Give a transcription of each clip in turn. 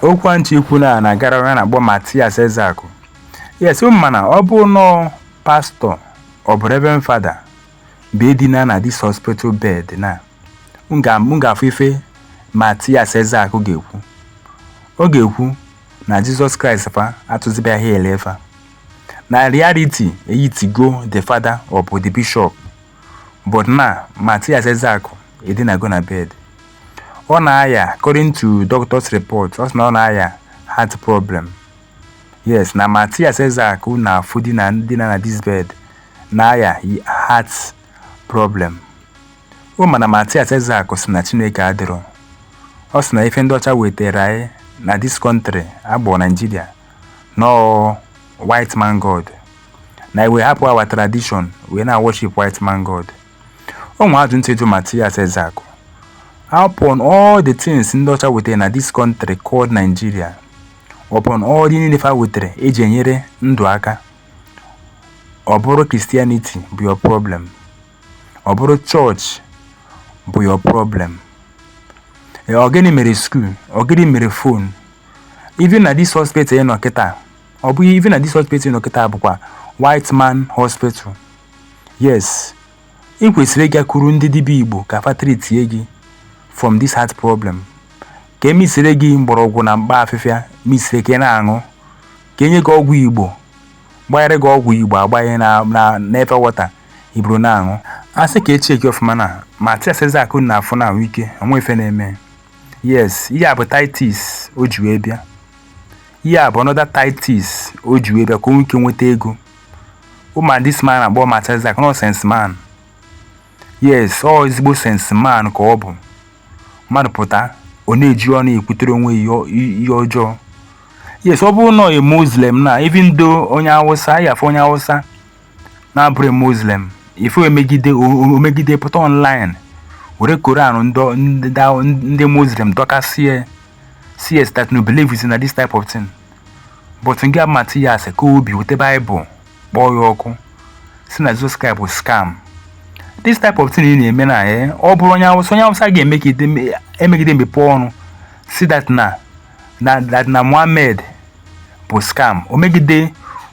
okwu a m chọ ikwu na na-agara onye a na-akpọ Matias Ezeaku yes ụ ma na ọ bụ na ọ pastọ ọ bụ reverend fada bụ ya dina na dis hospital bed na m ga-afụ ife Matias Ezeaku ga-ekwu ọ ga-ekwu na Jizọs Kraịst fa atụzibeghị ha ele fa na reality ehitigo the fada ọ bụ the bishop But now, Matthias Ezeaku edinago na bed. Ọ na-aya according to doctor's report, ọ sị na ọ na-aya heart problem. Yes, na Matthias Ezeaku na-afụ dina na this bed na-aya heart problem. Ụ ma na Matthias Ezeaku sị na Chineke adịrọ. Ọ sị na ife ndị ọcha wetara anyị na this country a kpọ Nigeria na ọ white man god na anyị wee hapụ our tradition wee na-worship white man god o nwe ajụjụ m chọ ịjụ Matias Ezeaku upon all the things ndị ọcha wetara na this country called Nigeria upon all the niile fa wetara eji enyere ndụ aka ọ bụrụ Christianity bụ your problem Ọ bụrụ chọọchị bụ your problem. Eh, ọ gịnị mere skuul? Ọ gịnị mere fon? Even na dis hospital ị nọ kịta, ọ bụ even na dis hospital ị nọ kịta bụkwa white man hospital. Yes, ị kwesịrị ịgakwuru ndị dibịa Igbo ka fa treatie gị from this heart problem. Ka e misire gị mgbọrọgwụ na mkpa afịfịa misire ka ị na-aṅụ, ka e nye gị ọgwụ Igbo gbanyere gị ọgwụ igbo agbanye na eva wọta i buru na-aṅụ a sị ka e chekie ọfụma na matias ezeaku na-afụ na ahụ ike o nwe ife na-eme yes ihe a bụ tactics o ji wee bịa ihe a bụ another tactics o ji wee bịa ka o nwee ike nweta ego ụ ma dis man a kpọ matias ezeaku na ọ sense man yes ọ ezigbo sense man ka ọ bụ mmadụ pụta ọ na-eji ọnụ ekwutere onwe ya ihe ọjọọ yes ọ bụrụ na ọ muslim na even though onye awụsa ị ya-afụ onye awụsa na-abụrọ muslim ife o megide pụta online were koran ndị muslim dọkasie sị that na ọ believe na this type of thing but nke a bụ matias ka ọ bịa weta baịbụl kpọọ ya ọkụ sị na Jizọs Kraịst bụ scam this type of thing ị na-eme na ya eh, ọ bụrụ onye awụsa onye awụsa ga-emegide mepe ọnụ sị that na Muhammad bụ scam o megide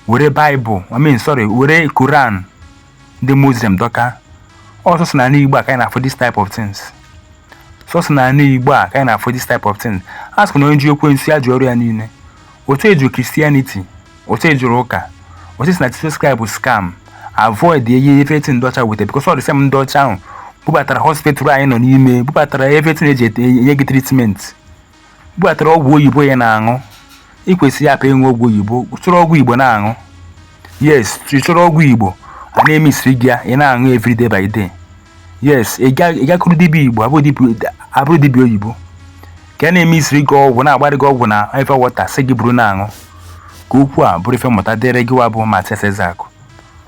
were Bible I mean sorry were Quran ndị Muslim dọka ọ sọsọ na ala Igbo a ka anyị na-afụ this type of things sọsọ na ala Igbo a ka anyị na-afụ this type of things a sịkwa na onye ji ekwensu ya ji ọrụ ya niile otu ị jụrụ christianity otu ị jụrụ ụka otu ị sị na jesus christ bụ scam avoid everything ndị ọcha weta because ọ the same ndị ọcha ahụ bubatara hospital anyị nọ n'ime bubatara everything eji ete- enye gị treatment bubatara ọgwụ oyibo ya na-aṅụ ị kwesịrị ịhapụ ịṅụ ọgwụ oyibo chọrọ ọgwụ igbo na-aṅụ yes ị chọrọ ọgwụ igbo a na-emesiri gị ya ị na-aṅụ every day by day yes ị gakwuru dibịa igbo abụrọ dibịa oyibo ka a na-emesiri gị ọgwụ na-agbarị gị ọgwụ na Eva water sị gị buru na-aṅụ ka okwu a bụrụ ife mmụta dịrị gị wa bụ Mathias Ezeaku